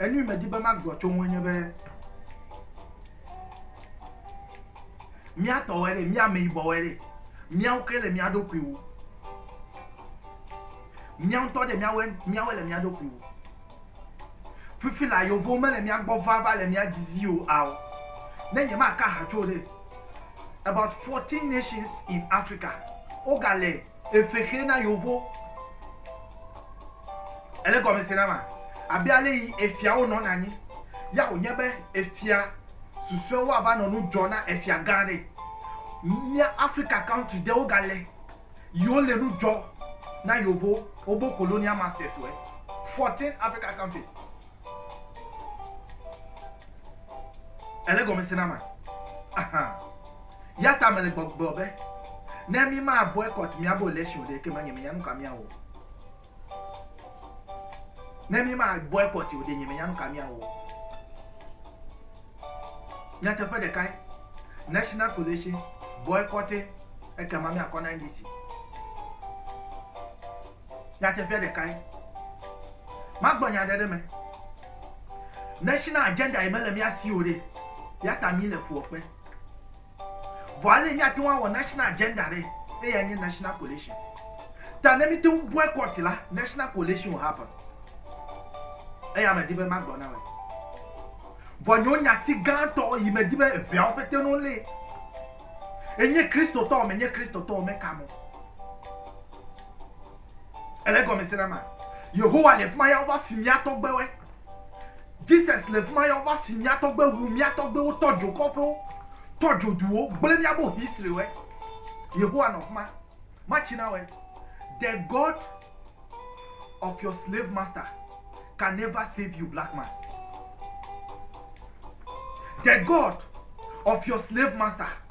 Enui medi be magblɔ tso ŋue nye be míatɔwɔe ɖe, mía ameyibɔwɔe ɖe, míawo ke le mía ɖokui wu. Mía ŋutɔ ɖe míawoe míawoe le mía ɖokui wu. Fifi la yevuwo mele mía gbɔ va va le mía dzi zi o ao. Ne nyemaka ha tso ɖe about fourteen nations in Africa wogale Eve xɛ na yovo. Ele gɔme se na ma? Abe ale yi efiawo nɔna anyi ya wònye be efia susuewo ava nɔ nu dzɔ na efia gã aɖe. Mía Afrika country ɖewo ga le yi wo le nu dzɔ na yovo wo bo colonia masters wɔe. Fourteen Africa countries. Ele gɔme se na ma? Aha. Ya ta mele gbɔgblɔ be ne mi ma boycott miabo election ɖe ke ma nye menya nuka miawɔ. Ne mi ma boycott o ɖe nye menya nuka miawɔ. Nyateƒe ɖeka ye. National Coalition boycotting ekema miakɔ na NDC. Nyateƒea ɖekae. Magblɔ nya aɖe ɖe eme. National agenda yi mele mía si o ɖe, ya ta mí le fuwɔƒe. Vɔ ale yi mía te ŋu awɔ national agenda ɖe, eyae nye national coalition. Ta ne mí te ŋu boycott la, national coalition will happen. Eya medi be magblɔ na wòe. Vɔ nyewo nyati gãtɔ yi medi be eŋeawo ƒete no lée. Enye Kristotɔ o, menye Kristotɔ o, meka mo. Ele gɔme se na ma. Yehowa le fima ya wova fi mía tɔgbewe. Jesus le fima ya wova fi mía tɔgbe wu mía tɔgbewo tɔdzo kɔƒewo, tɔdzo duwo, gblẽ mía bo history we. Yehowa nɔ fima. Ma tsi na we. The God of your slave master can never save you, black man. The God of your slave master.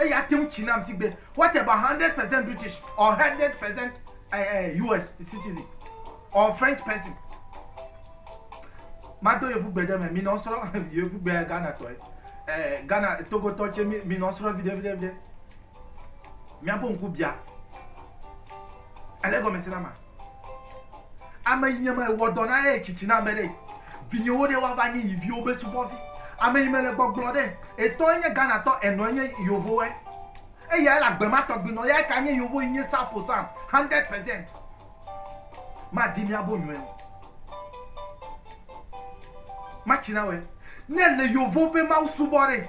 Eya ate ŋu tsi nam si gbe what about hundred percent British or hundred percent uh, eh, US eh, citizen or French person. Mado yevu gbe ɖe me mi nɔ srɔ̃ yevu gbe Ghana tɔe eh, Ghana Togo tɔ tse mi nɔ srɔ̃ viɖe viɖe viɖe. Miaƒe ŋku bia. Ele gɔme si na ma. Ame yi nye me wɔ dɔ na ɖe tsitsi na me ɖe. Vinyewo ɖe wa va nyi yi viwo be subɔvi. Ame yi me le gbɔgblɔ ɖe. Etɔ enye Ghana tɔ enɔ enye yovo wɛ. Eya ele agbe ma tɔgbi nɔ ya eka nye yovo yi nye sapo sam 100 percent. Ma di mia bo nyɔɛ o. Ma tsi na wɛ. Ne le yovo be mawu subɔ ɖe.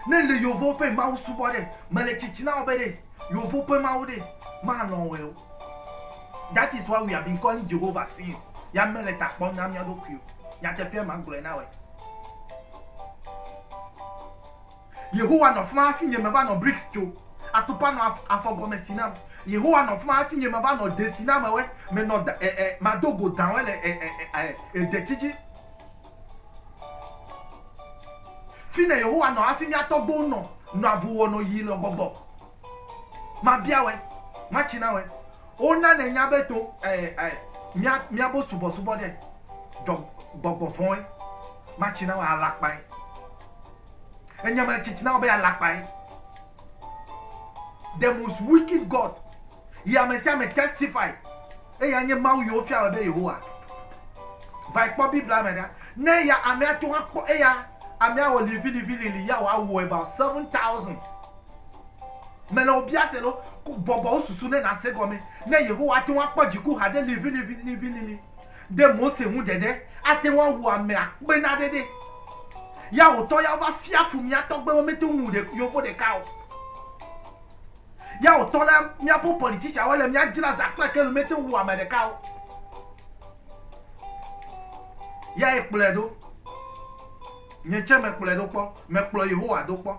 Ne le yovo be mawu subɔ ɖe. Me le tsitsi na wɔ be ɖe yovo be mawu ɖe ma nɔ wɛ o. That is why we have been calling Jehovah since. Ya mele ta kpɔm na mía ɖokui o. Nyateƒea ma gblɔe na wòe. Yehowa nɔ fima hafi nye meva nɔ BRICS tso. Atukpa nɔ afɔ gɔme si nam. Yehowa nɔ fima hafi nye meva nɔ desinamewɔe, menɔ da, eh, eh, mado go dawɔe le eh, eh, eh, eh, eh, detsi dzi. Fine Yehowa nɔ hafi mía tɔgbuiwo nɔ, nɔ avu wɔ nɔ yi le gbɔgbɔ. Mabia wɛ, matsi na wɛ. Wo na nɛ nya be to ɛɛ ɛɛ mia mia bo subɔ subɔ ɖe dɔ gbɔgbɔ vɔn ɛ. Matsi na wɛ alakpa ɛ. Enyɛ ma tsitsi na wɔ be alakpa ɛ. The most wicked God. Yi ame sia ame testify. Eya nye Mawu yi wo fia wɛ be Yehowa. Vayi kpɔ Biblia me ɖa. Ne ya amea to akpɔ eya amea wɔ livi livi lili ya wɔ awuɛ ba seven thousand. Mele wò bia se ɖo, bɔbɔ wò susu ne nàse gɔme ne Yehowa ate ŋu akpɔ dziku haɖe liʋiliʋiliʋilili ɖe Mose ŋu ɖeɖe ate ŋu awu ame akpenaɖeɖe. Ya wò tɔ ya wova fia fu mía tɔgbe be mete ŋu wu ɖe, yovo ɖeka o. Ya wò tɔ la míaƒe politician wole mía dzra za kple kenu mete ŋu wu ame ɖeka o. Yae kplɔe ɖo. Nye tsɛ mekplɔe ɖo kpɔ. Mekplɔ Yehowa ɖo kpɔ.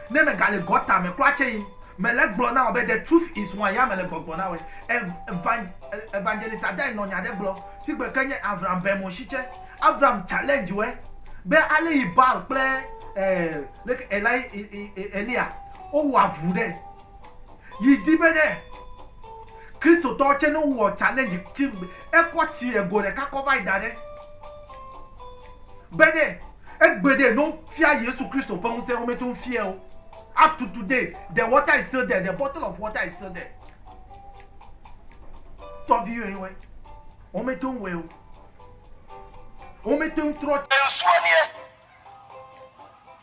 Ne megale gɔta me kura tsɛ yi, mele egblɔ na wò be the truth is one, ya mele gbɔgblɔ na wòe. Ev, Evangelist Adae nɔ nya ɖe gblɔ si gbe ke nye Avram Benmo shi tsɛ. Avram challenge wòe be ale yi Baal kple, eh, leke, Eli, Elia, wowɔ avu ɖe. Yi di be ne Kristotɔwo tse ne wowɔ challenge tsi ekɔ tsi ego ɖeka kɔ va yi da ɖe be ne egbe ɖe no fia Yesu Kristo ƒe ŋusẽ wo me to ŋfie o. Up to today, the water is still there, the bottle of water is still there. Tɔvi yɔe wɔe. Wo me to ŋwɔe o. Wo me to ŋtrɔ. Ŋsua niɛ.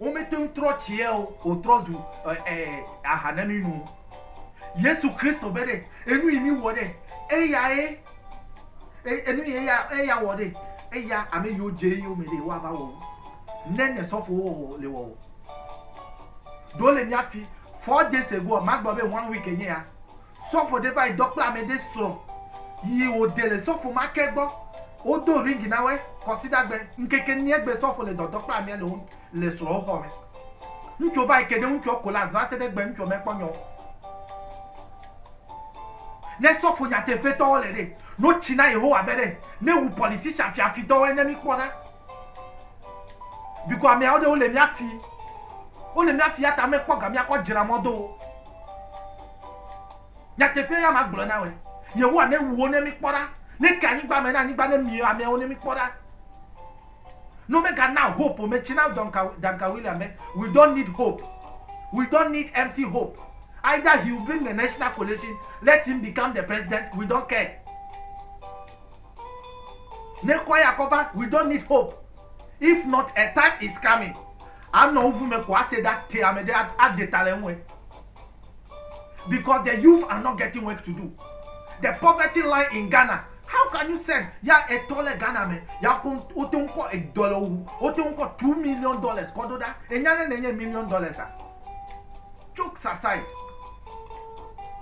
Womete ŋu trɔ tsie o, wòtrɔ zu aha na mí nu. Yesu Kristo be ɖe, enu yi mí wɔ ɖe, eyae, enu yi eya wɔ ɖe, eya ame yiwo dze eyome ɖe woa va wɔ wu ne ne sɔfo wo wɔwɔ le wɔwɔ. Ɖo le mía fi, four days ago, magblɔ be one week enye ya, Sɔfo ɖe va yi dɔ kple ame ɖe srɔ̃ yi wo de le sɔfo ma ke gbɔ. Wo do ring na wɛ kɔsida gbe. Ŋkeke niɛ gbe sɔfo le dɔ dɔ kple amea le wo le srɔ̃ wo xɔ me. Ŋtsuɔ va yi ke ɖe ŋtsuɔ kolas va se ɖe gbe ŋtsuɔ me kpɔ nyɔ wo. Ne sɔfo nyateƒe tɔ wo le ɖe, no tsi na Yehowa be ɖe ne wu politician fia fi tɔ woe ne mi kpɔ ɖa. Biko amea wo ɖe wo le mia fi. Wo le mia fi ya ta me kpɔ ga mia kɔ djra mɔ do wo. Nyateƒee ya magblɔ na wòe. Yehowa newu wo ne míkpɔ ɖa. Neke anyigba me na anyigba ne mie ameawo ne míkpɔ ɖa. Ne womegana hope o, metsi na Duncan, Duncan William be, we don't need hope. We don't need empty hope. Either he will bring the national coalition, let him become the president, we don't care. Ne kɔ ya kɔ va, we don't need hope. If not, a time is coming. Anɔ ŋu me ko ase ɖa te ame ɖe ade ta le ŋue. because the youth are not getting work to do the poverty line in ghana how can you send ya etɔ le ghana me ya ko wote ŋu kɔ edɔ le wo wote ŋu kɔ two million dollars kɔ do ɖa enya ne nenye million dollars a jokes aside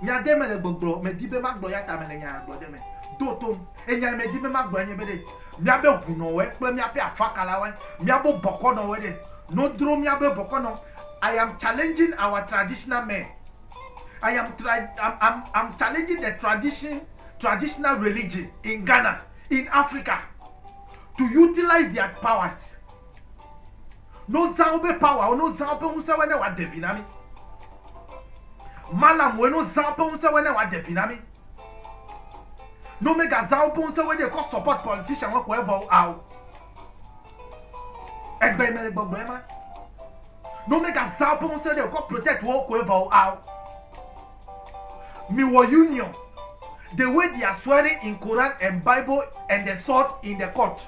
nya ɖe me le gbɔgblɔ medi be magblɔ ya ta me le nya gblɔ ɖe me do tom enya medi be magblɔ nye be ɖe miabe ʋunɔwɔe kple miaƒe afakalawoe miabo bɔkɔnɔwɔe ɖe No dro miabe bɔkɔnɔ. I am challenging our traditional men. I am tra am am am challenging the tradition traditional religion in Ghana in Africa to utilize their powers. No zã wobe power wo no zã wobe ŋusẽ wo ne wa devi na mi. Malam wo no zã wobe ŋusẽ wo ne wa devi na mi. No mega zã wobe ŋusẽ wo ne kɔ support politician wo kɔ evɔ ao. Egbe yi me le gbɔgblɔ ema. Ne womegazã woƒe ŋusẽ ɖe wokɔ protect wo koe vɔ o ao. Miwɔ union the way they are swearing in Quran and Bible and the sword in the court.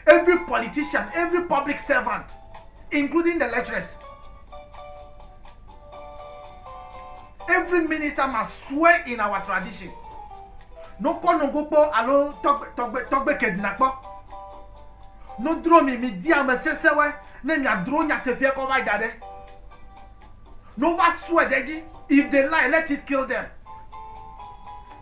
Every politician, every public servant, including the lecturers. Every minister must swear in our tradition. No kɔ no go kpɔ alo tɔgbe tɔgbe tɔgbe ked na kpɔ. No dro mi mi di ame sese we ne mi adro nya tefia kɔ va da ɖe. No va swear ɖe dzi if they lie let it kill them.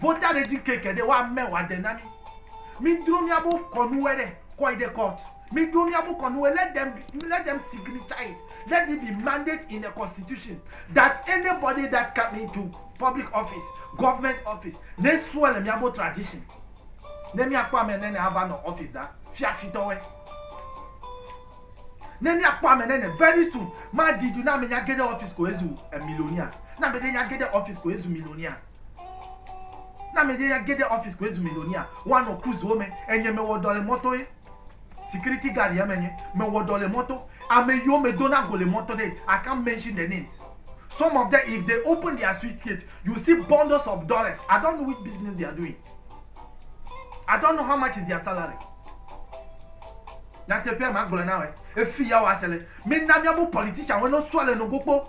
Vota ɖe dzi ke geɖe wa mɛ wa de na mi. Mi dro mia bo kɔ nu wɛ ɖe kɔ yi ɖe court. Mi dro mia bo kɔ nu wɛ let them let them signature it let it be mandate in the constitution that anybody that come into public office government office ne sue le mia bo tradition ne mia kpɔ amɛ nɛnɛ ava nɔ office da fia fitɔ wɛ ne mia kpɔ amɛ nɛnɛ very soon ma di du na amɛ nya geɖe office ko ezu millionaire na amɛ ɖe nya geɖe office ko ezu millionaire. Ne ameɖe ya ge ɖe ɔfisi ko ezu milionia, woanɔ kuzuwo me. Enye mewɔ dɔ le mɔto ye security guard ye menye. Mewɔ dɔ le mɔto. Ame yiwo medona go le mɔto ɖe, I can't mention their names. Some of them if they open their suitcase, you see bundles of dollars. I don't know which business they are doing. I don't know how much is their salary. Nyateƒea magblɔ na wɔe. Efi ya wɔa se le. Mina mía bo politician wɔe no sua le no go kpo.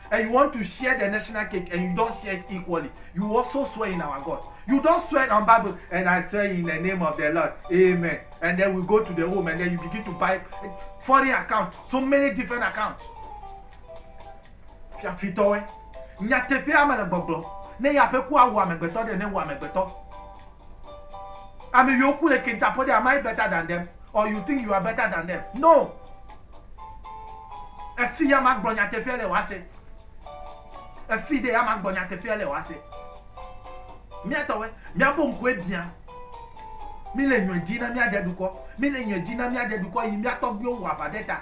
and you want to share the national cake and you don't share it equally you also swear in our god you don't swear on bible and i swear in the name of the lord amen and then we go to the home and then you begin to buy foreign account so many different account fiafitɔwɛ nyateƒe ame le gbɔgblɔ ne ya ƒe ku awu amegbetɔ ɖe ne wu amegbetɔ ame yiwo ku le kentaƒɔ ɖe am i better than them Or you think you are better than them. No! Efi ya ma gblɔ nyateƒea le wase. Efi de ya ma gblɔ nyateƒea le wase. Mia tɔwe, mia bo ŋkue bia. Mi le nyɔe di na mia de dukɔ. Mi le nyɔe di na mia de dukɔ yi mia tɔgbiwo wa va de ta.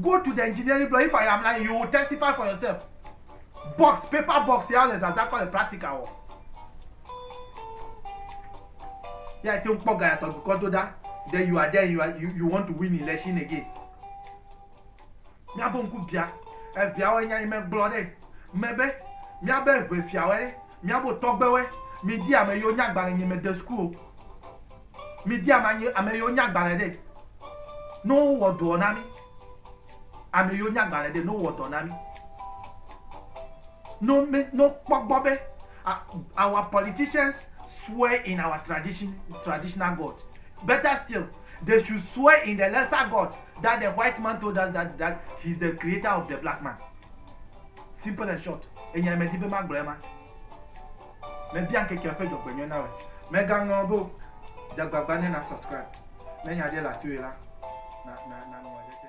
Go to the engineering block if I am lying you will testify for yourself. Box paper box ya le zaza kɔ le practical wɔ. Ya te kpɔ ga ya tɔ dukɔ do da. Then you are there you are you, you want to win election again. Miabo nku bia. Ebia wo nya ime gblɔ ɖe. Mebe miabe ʋe fiawe ɖe. Miabo tɔgbewe. Mi di ame yo nya gbale nyime de school. Mi di ame anyi ame yiwo nya gbalẽ ɖe ne wo wɔ dɔɔ na mi. Ame yiwo nya gbalẽ ɖe ne wo wɔ dɔ na mi. No me no kpɔ gbɔ be our politicians swear in our tradition traditional God. Better still they should swear in the lesser God that the white man told us that that he is the creator of the black man. Simple and short. Enya me di be ma gblɔe ma. Mebia ŋkekea ƒe dzɔgbenyɔe na wòe. Mègaŋlɔ be o. Dze agbagba ne na subscribe ne nya aɖe le asiwò la, na, na, na ŋlɔ ɖe te.